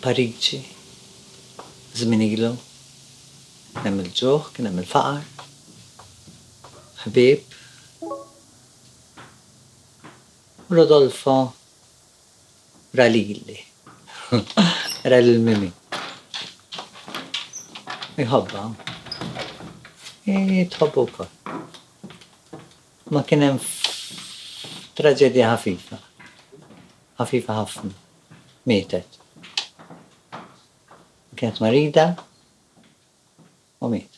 Pariġi, żmien ilu, kien hemm il-ġuħ, kien hemm il-faqar, ħbieb, u Rodolfo Ra lili. Ra lil Mimi. Iħobbha? Hi tħobbu wkoll. Ma kien hemm traġedja ħafifa. Ħafifa ħafna. Mietet. Kienet marida u mietet.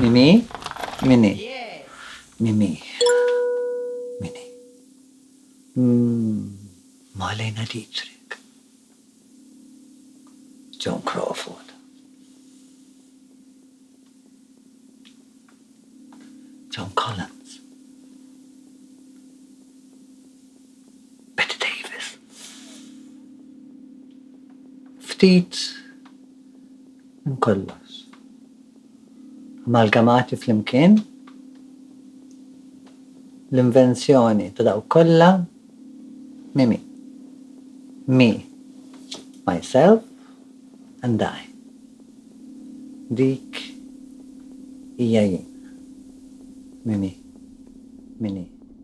Mimi? Mimi? Mimi? Mimi? Mm, Malena Dietrich. John Crawford. John Collins. Bette Davis. Ftit minn kollox. Amalgamati flimkien, l-invenzjoni ta' dawk kollha mimi. Me, myself and I. Dik hija jien. Mimi. Min hi.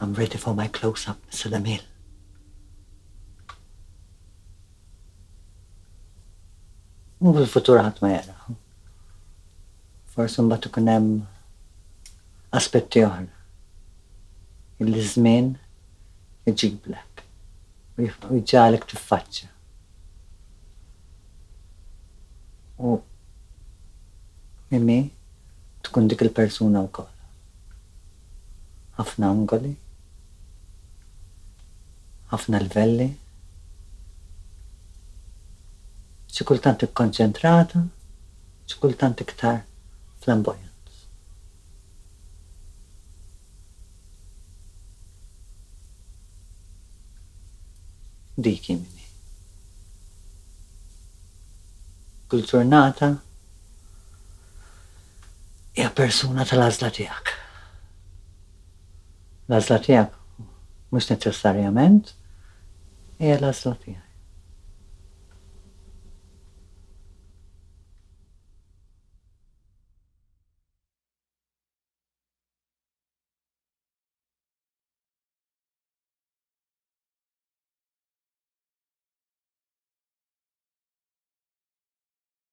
I'm ready for my close up, Mr. Damiel. U fil-futur ħadd ma jara. Forsi mbagħad ikun hemm aspetti oħra. Il-żmien iġiblek u jġalek tiffaċċja. U mimi tkun dik il-persuna wkoll. ħafna angoli, ħafna livelli, xi kultant ikkonċentrata, xi kultant iktar flamboyant. Dik hi min hi. Kull ġurnata hija persuna tal-għażla tiegħek. L-għażla tiegħek mhux neċessarjament hija l-għażla tiegħi.